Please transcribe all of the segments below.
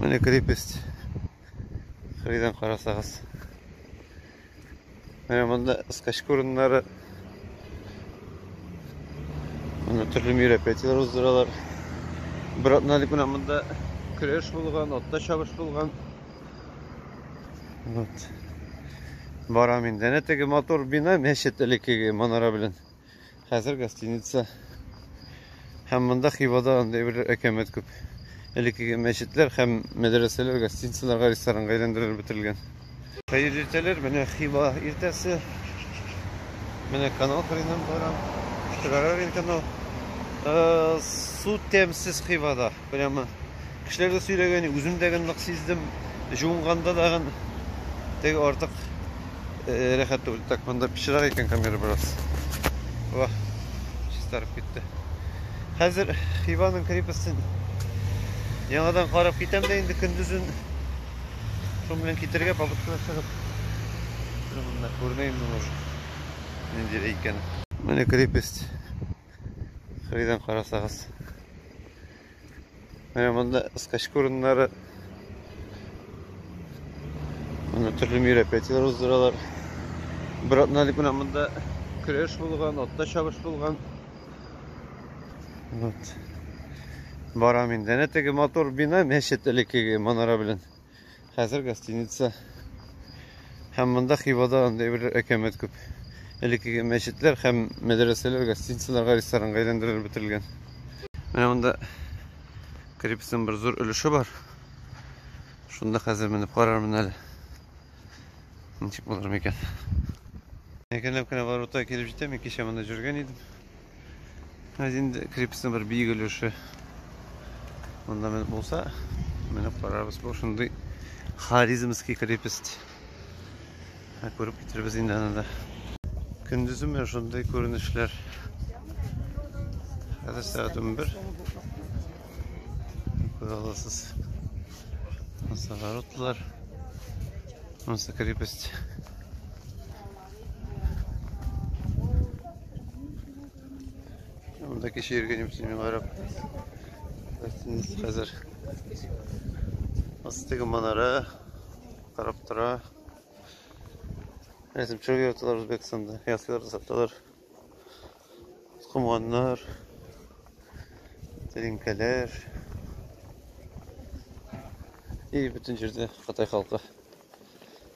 Менә крепость. Кырыйдан карасагыз. Менә монда скачка урыннары. Менә төрле мероприятиеләр уздыралар. Бер атналык менә монда көрәш булган, атта чабыш булган. Вот. Барам инде. Әнә теге мотор бина мәчет элеккеге манара белән. Хәзер гостиница. Һәм монда Хивада андый бер әкәмәт күп. Элеккеге мәчетләр һәм мәдрәсәләр гостиницаларга, ресторанга әйләндерелеп бетерелгән. Хәер иртәләр, менә Хива иртәсе. Менә канал хренам барам. Штрарарин канал. Э, су тәмсез Хивада. Прямо кешеләр дә сөйләгән, үзем дә генлык сиздем. Җуынганда да гын теге артык э, рәхәт түгел. Так, монда пычрак икән камера бераз. Ва, чистарып китте. Хәзер Хиваның крепостен яңадан карап китәм дә инде көндезен шуның белән китергә попытка чыгып. Монда күрмәйм мин уже. Нинди икән. Менә крепость. Кырыйдан карасагыз. Менә монда скачка урыннары. Монда төрле мероприятиеләр уздыралар. Бер атна дип менә монда көрәш булган, атта чабыш булган. Вот. Барам инде. Әнә теге мотор бина мәчет элеккеге манара белән. Хәзер гостиница. Һәм монда Хивада андый бер әкәмәт күп. Элеккеге мәчетләр һәм мәдрәсәләр гостиницаларга, ресторанга әйләндерелеп бетерелгән. Менә монда крепостьнең бер зур өлеше бар. Шунда хәзер менеп карармын әле. Ничек булыр микән? Әкренләп кенә Барута килеп җитәм. Ике чаманда җөргән идем. Әз инде крепостьның бер биек өлеше монда менеп булса, менеп карарбыз. Бу шундый Харизмский крепость. Ә күреп китербез инде аны да. Көндезем менә шундый күренешләр. Хәзер сәгать 11. Күрә аласыз. Монсы воротлар. Монсы крепость. Монда кеше йөргән юк, мин карап. Хәзер астыгы манара карап тора. Рәсем чыгып яталар Үзбәкстанда. Ясыйлар саталар. Кумганнар. Тәлинкәләр. И бөтен җирдә Кытай халкы.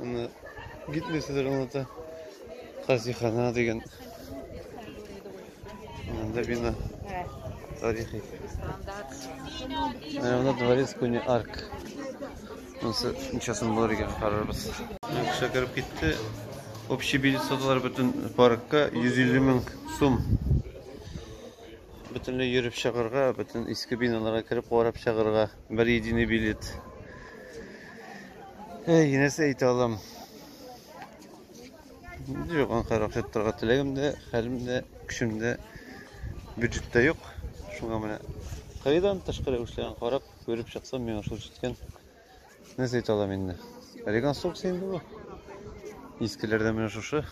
Аны китмисезер аңлата. Хазихана дигән. Анда бина. Тарихи. Менә анда дворец көне арк. Монсы ничасын булыр икән карарбыз. Кеше кереп китте. Общий билет саталар бөтен паркка 150 мең сум. Бөтенләй йөреп чыгарга, бөтен иске биналарга кереп карап чыгарга. Бер единый билет. Әй, нәрсә әйтә алам? Юк, анкара акча торга теләгем дә, хәлем дә, көчем дә, бюджет тә юк. Шуңа менә кайдан тышкы рәвешләрен карап, күреп чыксам, миңа шул җиткән. Нәрсә әйтә алам инде? Реконструкция инде бу. Искеләрдә менә шушы.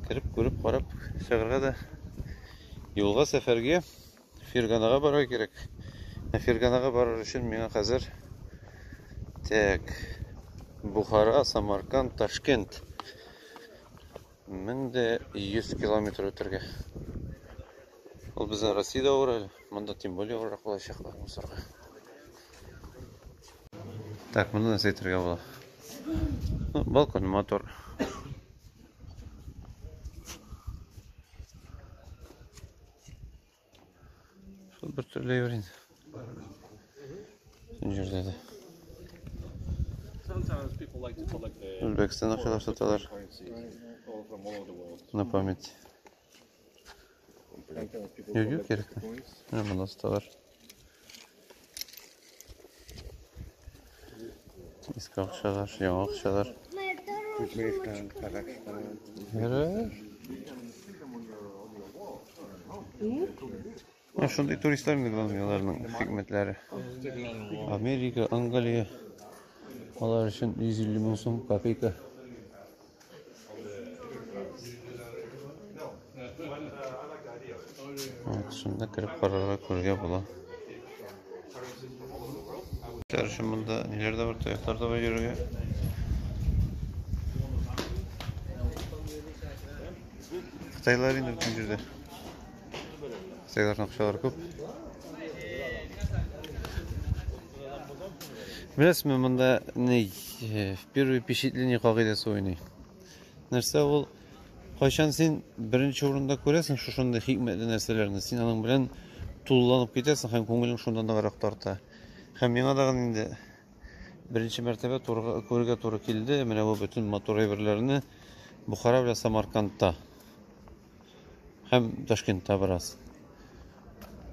Кереп, күреп, карап, чыгарга да юлга сәфәргә Ферганага барырга кирәк. Ә Ферганага барыр өчен миңа хәзер Так. Бухара, Самарканд, Ташкент. 1100 километр үтәргә. Ул безнең Россиядә авыр әле. Монда тем более авыррак булачак бар мусорга. Так, моны нәрсә әйтергә була? Ну, балкон мотор. Шул бер төрле йөр инде. Шул җирдә дә. Үзбәкстан акчалар саталар. На память. Юк, юк, кирәкми. Менә монда саталар. Иске акчалар, яңа акчалар. Үзбекстан, Казахстан. Ярар. Менә шундый туристлар инде булган аларның хикмәтләре. Америка, Англия. Алар өчен 150 мең сум копейка. Шунда кереп карарга күргә була. Короче, монда ниләр дә бар, тояклар да бар йөрергә. Кытайлар инде бөтен җирдә. Сыйларның акчалары күп. Беләсезме, монда ни э, первый впечатление кагыйдәсе уйный. Нәрсә ул? Кайчан син беренче урында күрәсең шушындый хикмәтле нәрсәләрне, син аның белән тулыланып китәсең һәм күңелең шунда ныграк тарта. Һәм миңа да инде беренче мәртәбә турга күрергә туры килде. Менә бу бөтен матур әйберләрне Бухара белән Самаркандта. Һәм Ташкентта бераз.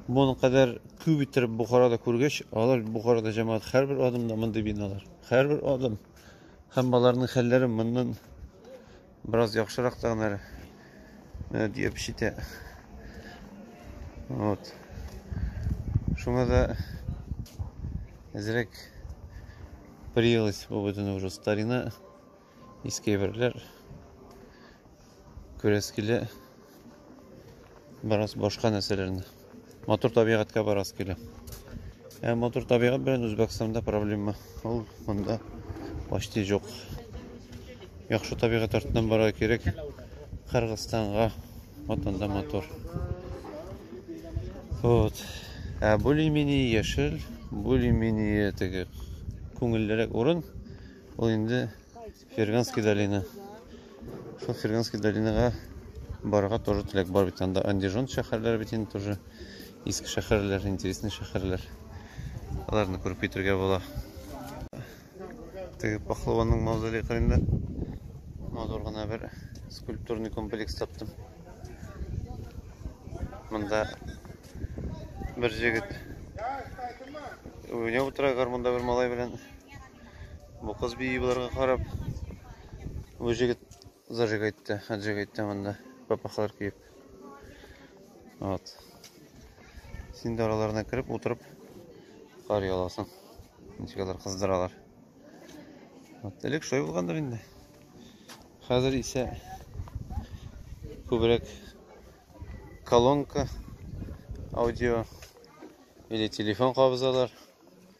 Моның кадәр күп иттереп Бухарада күргәч, алар Бухарада җәмәгать һәрбер адымда мондый биналар. Һәрбер адым. Һәм аларның хәлләре моннан бераз яхшырак та гына менә диеп шитә. Вот. Шуңа да әзрәк приелось бу бөтен уже старина. Иске әйберләр күрәс килә. Бераз башка нәрсәләрне. Матур табигатькә барасы килә. Ә матур табигат белән Үзбәкстанда проблема. Ул монда почти жоқ. Яхшы табигат артыннан барырга кирәк. Кыргызстанга вот анда матур. Вот. Ә более-менее яшел, более-менее теге күңеллерәк урын. Ул инде Ферганский долина. Шул Ферганский долинага барырга тоже теләк бар бит. Анда Андижон шәһәрләре бит инде тоже иске шәһәрләр, интересный шәһәрләр. Аларны күреп китергә була. Теге пахлаванның мавзолее кырында матур гына бер скульптурный комплекс таптым. Монда бер җегет уйнап утыра гармунда бер малай белән Бу кыз бии боларга карап, бу җегет зажиг әйтте, хаджиг әйтте монда, папахалар киеп. Вот. Син дә араларына кереп, утырып, карый аласың. Ничек алар кыздыралар. Вот, элек шулай булгандыр инде. Хәзер исә күбрәк колонка, аудио или телефон кабызалар.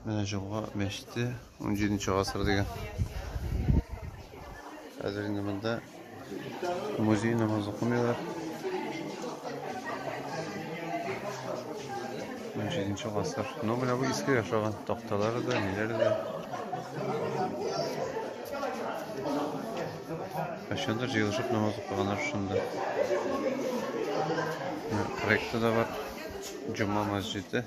Менә Җомга мәчете 17 нче гасыр дигән. Хәзер инде монда музей намаз укымыйлар. 17 нче гасыр. Ну, менә бу иске яшаган такталары да, ниләре дә. Кайчандыр җыелышып намаз укыганнар шунда. Проекты да бар. Җомга мәчете.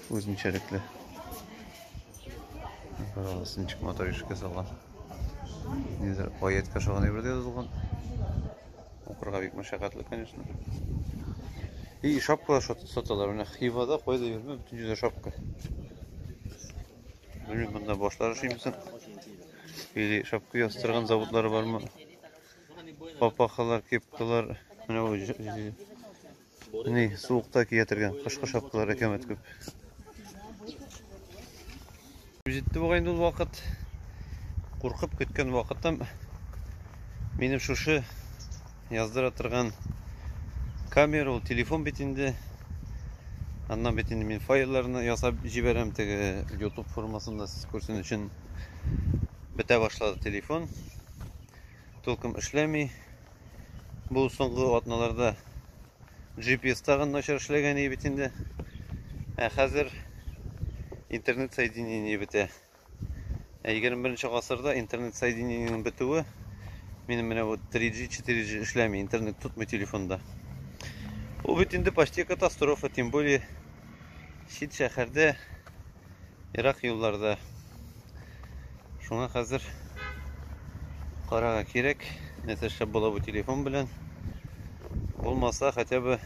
Үзенчәлекле. Карагыз, ничек матур ишеккә салган. Нидер аятка ошаган әйбер дә язылган. Укырга бик мәшәкатьле, конечно. И шапкалар саталар. Менә Хивада кайда йөрмә, бөтен җирдә шапка. Белмим, монда башлар эшлимсең. Или шапка ястырган заводлары бармы? Папахалар, кепкалар, менә Менә суыкта кия торган кышкы шапкалар әкәмәт күп. Җитте бугай инде ул вакыт. Куркып көткән вакытым минем шушы яздыра торган камера, ул телефон бит инде. Аннан бит инде мин файлларны ясап җибәрәм теге YouTube формасында сез күрсен өчен бетә башлады телефон. Толком эшләми. Бу соңгы атналарда GPS тагын начар эшләгән иде бит инде. Ә хәзер интернет соединение бетә. Ә 21 нче гасырда интернет соединениенең бетүе минем менә вот 3G, 4G эшләми, интернет тотмый телефонда. Бу бит инде почти катастрофа, тем более чит шәһәрдә ерак юлларда. Шуңа хәзер карага кирәк, нәрсә эшләп була бу телефон белән. Булмаса, хотя бы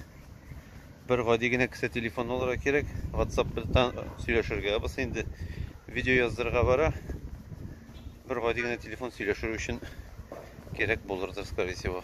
бер гади генә кесә телефон алырга кирәк. WhatsApp-тан сөйләшергә булса инде видео яздырырга бара. Бер гади генә телефон сөйләшер өчен кирәк булырдыр, скорее всего.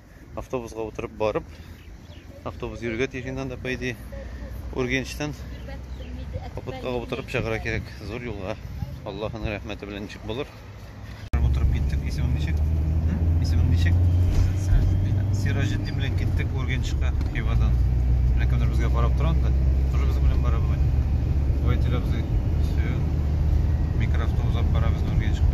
автобусга утырып барып, автобус йөрергә тиеш инде анда, по идее, Ургенчтан капоткага утырып чыгара кирәк. Зур юлга. Аллаһның рәхмәте белән ничек булыр. Утырып киттек. Исемең ничек? Исемең ничек? Сираҗетдин белән киттек Ургенчка Хивадан. Менә кемдер безгә карап тора анда. Тоже без белән бара бугай. Водителебез микроавтобус алып барабыз Ургенчка.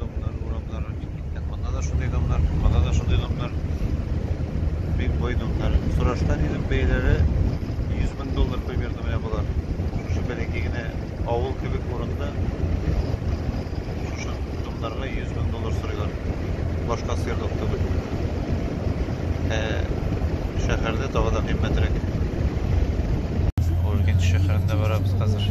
Домнар, урамнары бик киткән. Монда да шундый домнар, монда да шундый домнар. Бик бай домнар. Сорашкан идем бәяләре 100 мең доллар примерно менә болар. Шушы бәләкәй генә авыл кебек урында шушы домнарга 100 мең доллар сорыйлар. Башка сыерлык түгел. Ә шәһәрдә тагы да кыйммәтрәк. Уркент шәһәрендә барабыз хәзер.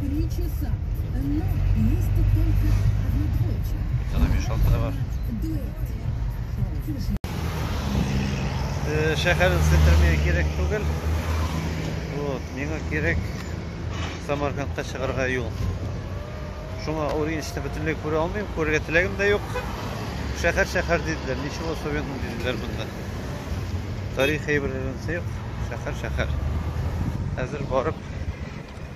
Три часа, но есть только одна дочь. Она мешала товар. Дуэт. Шәһәрен сетермея кирәк түгел. Вот, миңа кирәк Самаркандка чыгарга юл. Шуңа Ориенчны бөтенләй күрә алмыйм, күрергә теләгем дә юк. Шәһәр шәһәр диделәр, ничего особенного диделәр монда. Тарих әйберләрен сыйк, шәһәр шәһәр. Әзер барып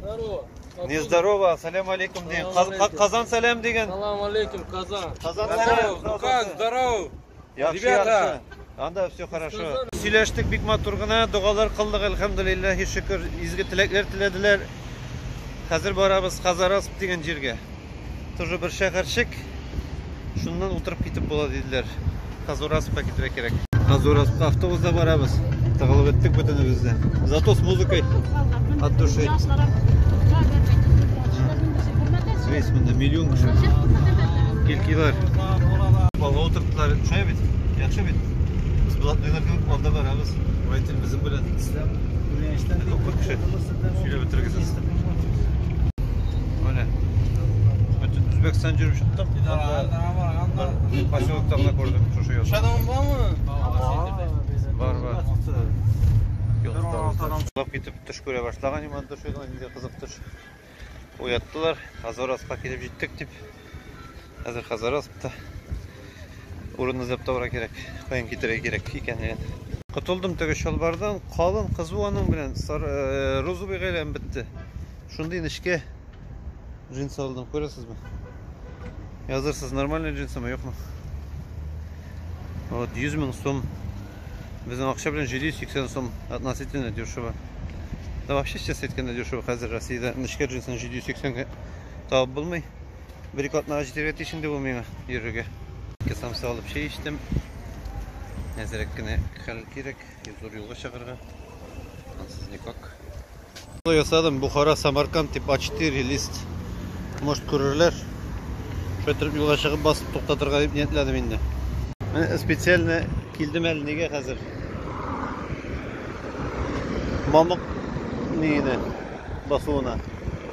Здорово. Не здорово, салям алейкум дин. Казан салям деген. Салам алейкум, Казан. Казан салам. Ну как, здорово. Ребята. Анда все хорошо. Сөйләштек бик матур гына, догалар кылдык, әлхәмдулиллаһи шөкер, изге теләкләр теләделәр. Хәзер барабыз Хазарас дигән җиргә. Тоже бер шәһәрчек. Шуннан утырып китеп була диделәр. Казураспка китәргә кирәк. Казураспка автобуста барабыз. Тыгылып беттек бөтенебез дә. Зато с музыкой от души. Весь монда миллион кеше. Килкилар. Балга утырттылар. Шулай бит? Яхшы бит? Без булат белән алда барабыз. Вайтин безнең белән. Күренештән күп кеше. Сөйләп бетергесез. Менә. Бөтен Үзбәкстан җөреп чыктым. Анда бер поселокта гына күрдем шушы язны. Шадам бармы? Бар, бар. Юллап китеп төш күрә башлаган иман төшегә, инде кызык төш. Уяттылар, Азорасқа килеп җиттек дип. Хәзер хәзер астта. Урын эзләп табарга кирәк. Каян китерергә кирәк икәнлеген. Котылдым теге чалбардан. Калын кызу аның белән сары э, розовый гайләм бетте. Шундый нечкә джинсы алдым, күрәсезме? Язырсыз, нормальный джинсымы, юкмы? Вот 100 мең сум. Безнең акча белән 780 сум относительно дешево. Да вообще сейчас әйткәндә дешево хәзер Россиядә нечкә джинсны 780 га табып булмый. Бер-ике атнага җитәргә тиеш инде бу миңа йөрергә. Ике самса алып чәй эчтем. Әзрәк кенә хәл кирәк, зур юлга чыгарга. Ансыз никак. Ясадым, Бухара, Самарканд дип А4 лист. Может күрерләр. Шөтер юлга чыгып басып туктатырга дип ниятләдем инде. Менә специально килдем әле нигә хәзер? Мамык нигенә басуына.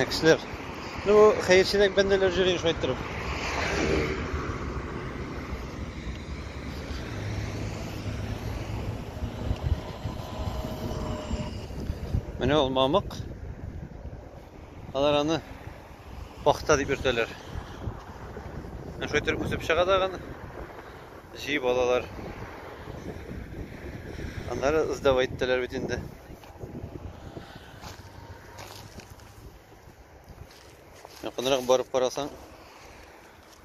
Ә кешеләр. Ну, хәерчелек бәндәләр җөрин шулай торып. Менә ул мамык. Алар аны пахта дип йөртәләр. Ә шулай торып үсеп чыга да аны. җыеп алалар. Аннары сдавать итәләр бит инде. Якынрак барып карасаң,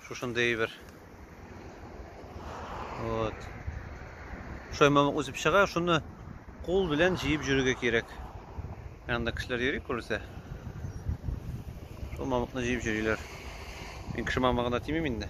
шушындый әйбер. Вот. Шаймамык үзеп чыга, шуны кул белән җыеп йөрергә кирәк. Анда кешеләр йөри күрсә. Шул мамыкны җыеп йөриләр. Мин кеше мамыгына тимим инде.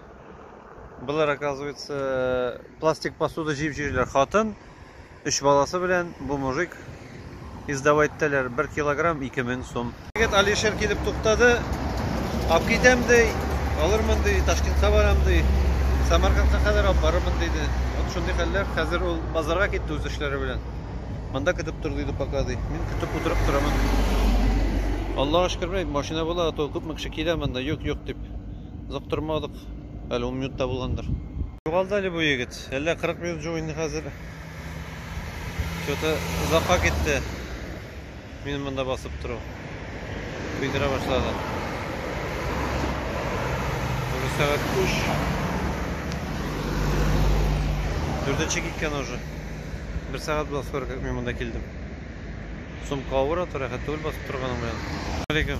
Болар, оказывается, пластик посуда җыеп йөриләр. Хатын, өч баласы белән бу мужик издава иттеләр. Бер килограмм 2000 сум. Егет Алишер килеп туктады. Алып китәм ди, алырмын ди, Ташкентка барам ди. Самаркандка кадәр алып барырмын диде. Вот шундый хәлләр. Хәзер ул базарга китте үз эшләре белән. Монда көтеп тор диде пока ди. Мин көтеп утырып торам. Аллага шөкер, машина була, а то күпме кеше килә монда, юк-юк дип. Озактырмадык. Әле 10 минутта булгандыр. Югалды әле бу егет. Әллә 40 минут җу инде хәзер. Что-то озакка китте. Мин монда басып тору. Көйдерә башлады. Уже сәгать 3. Дүртенче киткән уже. Бер сәгать була скоро как мин монда килдем. Сумка авыр атыр, рәхәт түгел басып торганым белән. Алейкум.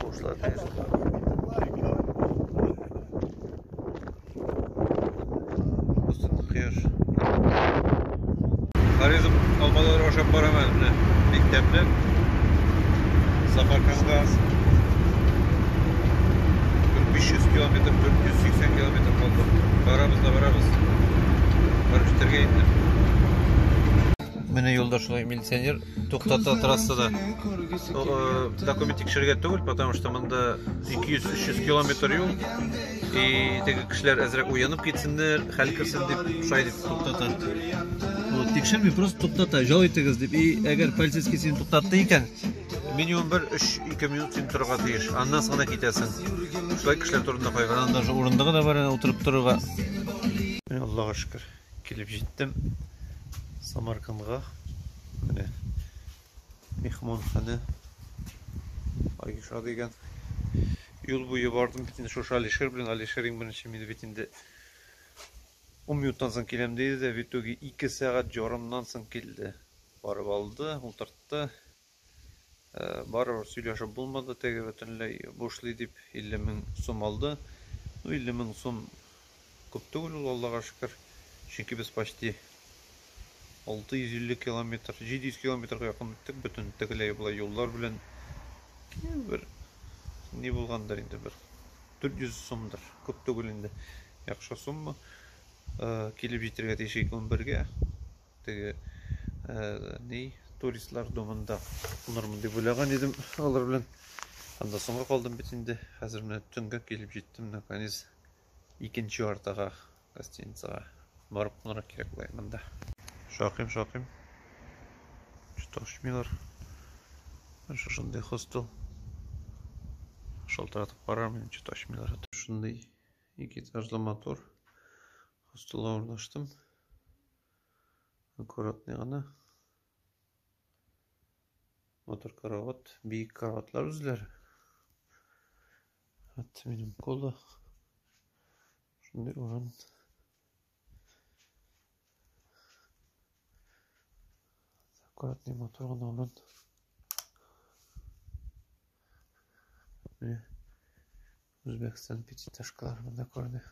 Кошла тез. Кусын кыяш. Харизм алмалар ашап барамын менә мектепне. Сапарканга 500 километр, 480 километр калды. Барабыз да барабыз. Барып җитәргә инде. Менә юлда шулай милиционер Туктата трассада. Документ тикшергә түгел, потому что монда 200-300 километр юл. И теге кешеләр әзрәк уянып китсеннәр, хәл керсен дип, шулай дип туктата. Вот, тикшерми, просто туктата, жол итегез дип. И әгәр полицейский син туктатты икән, минимум бер 3-2 минут син торырга тиеш. Аннан соң гына китәсең. Шулай кешеләр турында кайгырган, даже урындыгы да бар, утырып торырга. Аллага шөкер. Килеп җиттем Самаркандга. Менә мехманхана Айша дигән. Юл буе бардым бит инде шушы Алишер белән. Алишер иң беренче мине бит инде 10 минуттан соң киләм диде дә, в итоге 2 сәгать ярымнан соң килде. Барып алды, утыртты. Барыбер сөйләшеп булмады, теге бөтенләй бушлый дип 50 мең сум алды. Ну 50 мең сум күп түгел ул, Аллага шөкер. Чөнки без почти 650 километр, 700 километрга якын үттек бөтен тегеләй болай юллар белән. Бер ни булгандыр инде, бер 400 сумдыр, күп түгел инде. Яхшы сумма. Килеп җитәргә тиеш 2:11 гә. Теге ни туристлар домында кунырмын дип уйлаган идем алар белән. Анда соңга калдым бит инде. Хәзер менә төнгә килеп җиттем наконец икенче артага гостиницага барып кунырга кирәк була монда. Шакыйм, шакыйм. Что-то ошмыйлар. Шушындый хостел. Шалтыратып карармын, что-то ошмыйлар. Шундый ике этажлы мотор. Хостелга урнаштым. Аккуратный гына. Матур карават, биек караватлар үзләр. Хәтта минем колы. Шундый урын. Аккуратный матур гына урын. Үзбәкстан пятиэтажкаларын да күрде.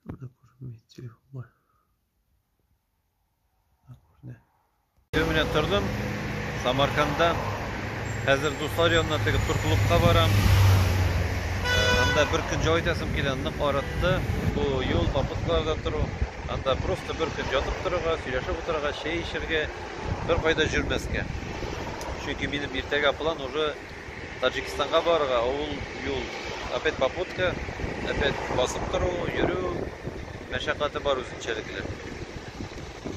Анда күренми телефонга. Анда күрде. Өй белән тордым. Самарканда. Хәзер дуслар янына теге тур клубка барам. Анда бер көн җай итәсем килә, нык арытты. Бу юл попуткаларда тору. Анда просто бер көн ятып торырга, сөйләшеп утырырга, чәй эчәргә, бер кайда җөрмәскә. Чөнки минем иртәгә план уже Таҗикстанга барырга авыл юл, опять попутка, опять басып тору, йөрү мәшәкате бар үзенчәлекле.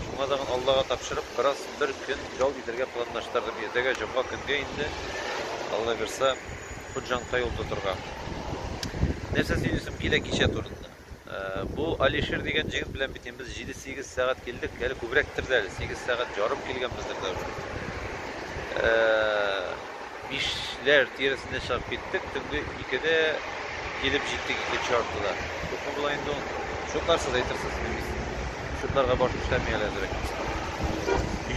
Шуңа тагын Аллага тапшырып, бераз бер көн ял итәргә планлаштырдым. Иртәгә җомга көнгә инде, Аллабирса, Хуҗанка юл тотырга. Нәрсә сөйлисем килә кичә турында. Бу Алишер дигән җегет белән бит без 7-8 сәгать килдек, әле күбрәктер дә, 8 сәгать ярым килгәнбездер дә уже. Бишләр тирәсендә чыгып киттек, төнге 2-дә килеп җиттек икенче артыда. Күпме була инде ул? Шутларсыз әйтерсез, шутларга баш эшләми әле әзрәк.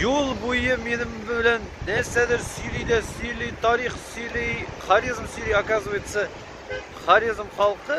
Юл буе минем белән нәрсәдер сөйли дә сөйли, тарих сөйли, харизм сөйли, оказывается, харизм халкы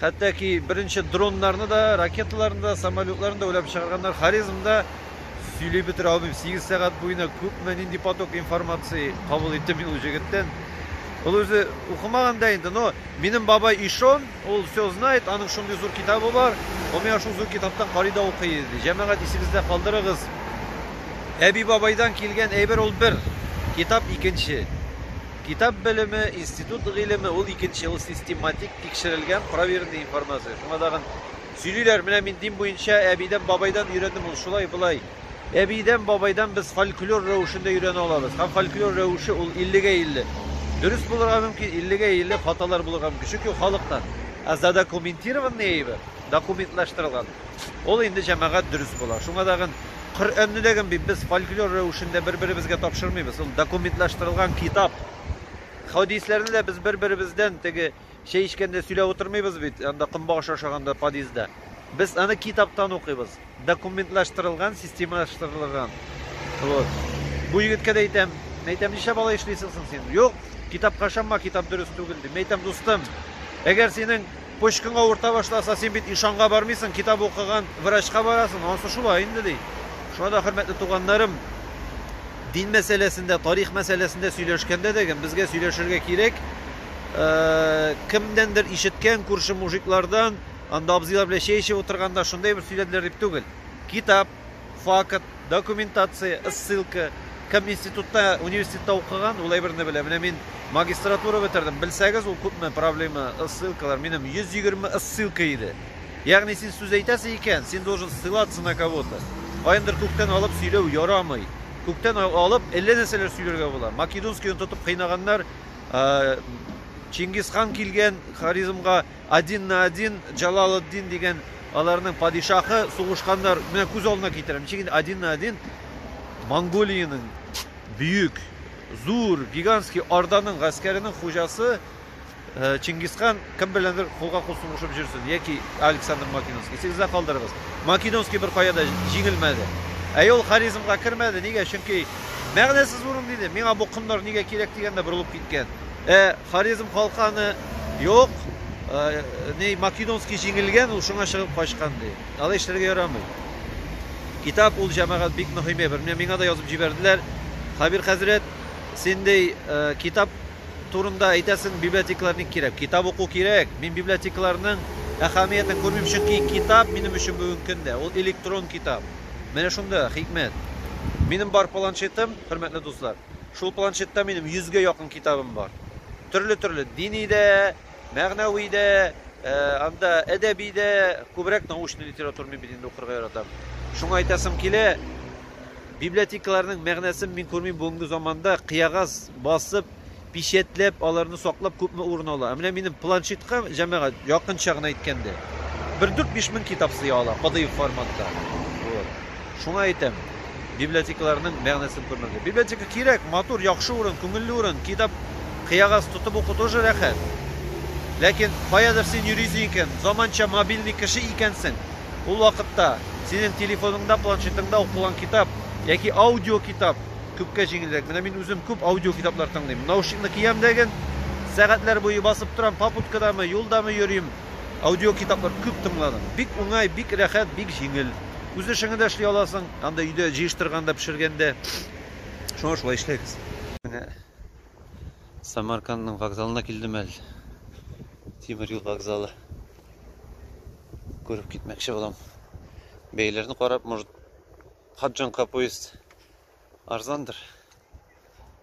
Хәтта ки беренче дроннарны да, ракеталарны да, самолетларны да уйлап чыгарганнар. Хорезмда сөйли бетерә алмыйм. 8 сәгать буена күпме нинди поток информации кабул иттем мин ул җегеттән. Ул үзе укымаган да инде, но минем бабай Ишон, ул все знает, аның шундый зур китабы бар. Ул миңа шул зур китаптан карый да укый иде. Җәмәгать исегездә калдырыгыз. Әби бабайдан килгән әйбер ул бер, китап икенче. Китап белеме, институт гыйлеме, ул икенче, ул систематик, тикшерелгән, проверенный информация. Шуңа тагын сөйлиләр, менә мин дин буенча әбидән, бабайдан өйрәндем, ул шулай, болай. Әбидән, бабайдан без фольклор рәвешендә өйрәнә алабыз. Һәм фольклор рәвеше ул 50 гә 50. Дөрес булырга мөмкин, 50 гә 50 хаталар булырга мөмкин. Чөнки ул халыктан. Ә задокументированный әйбер, документлаштырылган. Ул инде җәмәгать дөрес була. Шуңа тагын Коръәнне дә генби без фольклор рәвешендә бер-беребезгә тапшырмыйбыз. Ул документлаштырылган китап. Хәдисләрне дә без бер-беребездән теге чәй эчкәндә сөйләп утырмыйбыз бит, анда комбагыш ашаганда подъездда. Без аны китаптан укыйбыз. Документлаштырылган, системалаштырылган. Вот. Бу егеткә дә әйтәм, мин әйтәм, ничә бала эшлисең соң син? Юк, китапка ышанма, китап дөрес түгел, дим. Мин әйтәм, дустым, әгәр синең Почкаң авырта башласа, син бит ишанга бармыйсың, китап укыган врачка барасың. Анысы шулай инде, ди. Шуңа да, хөрмәтле туганнарым, дин мәсьәләсендә, тарих мәсьәләсендә сөйләшкәндә дә гем, безгә сөйләшергә кирәк, кемнәндер ишеткән, күрше мужиклардан, анда абзыйлар белән чәй эчеп утырганда шундый бер сөйләделәр дип түгел. Китап, Факт, документация, ссылка. Кем институтта, университетта укыган, ул әйберне белә. Менә мин магистратура бетердем. Белсәгез, ул күпме проблема, ссылкалар. Минем 120 ссылка иде. Ягъни син сүз әйтәсе икән, син должен ссылаться на кого-то. Каяндыр күктән алып сөйләү ярамый. Күктән алып әллә нәрсәләр сөйләргә була. Македонскийны тотып кыйнаганнар, Чингисхан килгән харизмга Один на один Җалалетдин дигән аларның падишаһы сугышканнар. Менә күз алдына китерәм. Ничек инде один на один Монголиянең бөек, зур, гигантский Орданың гаскәренең хуҗасы э, Чингисхан кем беләндер кулга-кул сугышып жүрсен, яки Александр Македонский. Исегездә калдырыгыз. Македонский бер кая да җиңелмәде. Ә ул Хорезмга кермәде. Нигә? Чөнки мәгънәсез урын диде. Миңа бу комнар нигә кирәк дигәндә борылып киткән. Ә Хорезм халкы аны, Юк, ни, Македонский җиңелгән, ул шуңа чыгып качкан, ди. Алай эшләргә ярамый. Китап ул, җәмәгать, бик мөһим әйбер. Менә миңа да язып җибәрделәр. Хәбир хәзрәт, син, ди, китап турында әйтәсең, библиотекалар ник кирәк? Китап уку кирәк. Мин библиотекаларның әһәмиятен күрмим, чөнки китап минем өчен бүгенге көндә ул электрон китап. Менә шунда хикмәт. Минем бар планшетым, хөрмәтле дуслар. Шул планшетта минем 100 гә якын китабым бар. Төрле-төрле дини дә, мәгънәви дә, э, анда әдәби дә, күбрәк научный литература мин бит инде укырга яратам. Шуңа әйтәсем килә, библиотекаларның мәгънәсен мин күрмим бүгенге заманда кыягаз басып, печатьләп, аларны саклап күпме урын ала. Ә менә минем планшетка җәмәгать якынча гына әйткәндә бер 4-5 мең китап сыя ала, кадыйк форматта. Шуңа әйтәм, библиотекаларның мәгънәсен күрмәгез. Библиотека кирәк, матур, яхшы урын, күңелле урын, китап кыягаз тотып уку тоже рәхәт. Ләкин каядыр син йөрисең икән, заманча мобильный кеше икәнсең, ул вакытта синең телефоныңда, планшетыңда укылган китап яки аудиокитап күпкә җиңелрәк. Менә мин үзем күп аудиокитаплар тыңлыйм. Наушникны киям дә ген, сәгатьләр буе басып торам, попуткадамы, юлдамы йөрим, Аудиокитаплар күп тыңладым. Бик уңай, бик рәхәт, бик җиңел. Үз эшеңне дә эшли аласың, анда өйдә җыештырганда, пешергәндә. Шуңа шулай эшләгез. Менә Самаркандның вокзалына килдем әле. Тимер юл вокзалы. Күреп китмәкче булам. Бәяләрне карап, может, Хаджанка поезд арзандыр.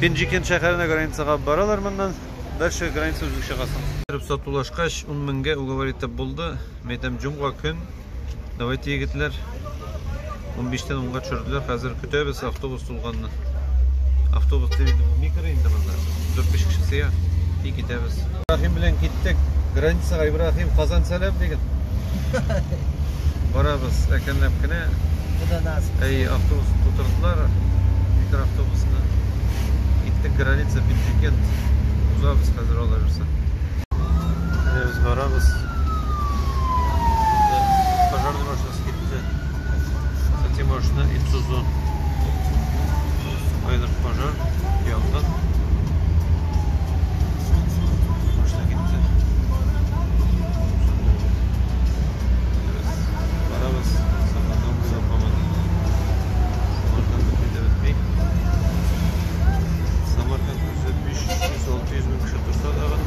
Пенджикен шәһәренә границага алып баралар моннан. Дальше граница үзең чыгасың. Кереп сатулашкач, 10 меңгә уговор итеп булды. Мин әйтәм, җомга көн. Давайте, егетләр. 15-тән 10-га төшерделәр. Хәзер көтәбез автобус тулганны. Автобус тиз микро инде монда. 4-5 кеше сыя и китәбез. Ибраһим белән киттек. Границага Ибраһим, Казан сәлам диген. Барабыз, әкренләп кенә. Куда нас? Әй, автобус тутырдылар. Микроавтобусны. Киттек граница Пинчикент. Узабыз хәзер алар берсе. Менә без барабыз. Пожарный машинасы китте. Әти машина Ицузу. Кайдыр пожар, янгын. Машина китте. Барабыз, сакландан буйлап һаман. Самарканд бөтми дә бөтми. Самарканд үзе 500-600 мең кеше торса тагын,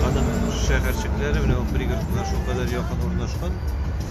аның шәһәрчекләре менә ул пригородка шулкадәр якын урнашкан.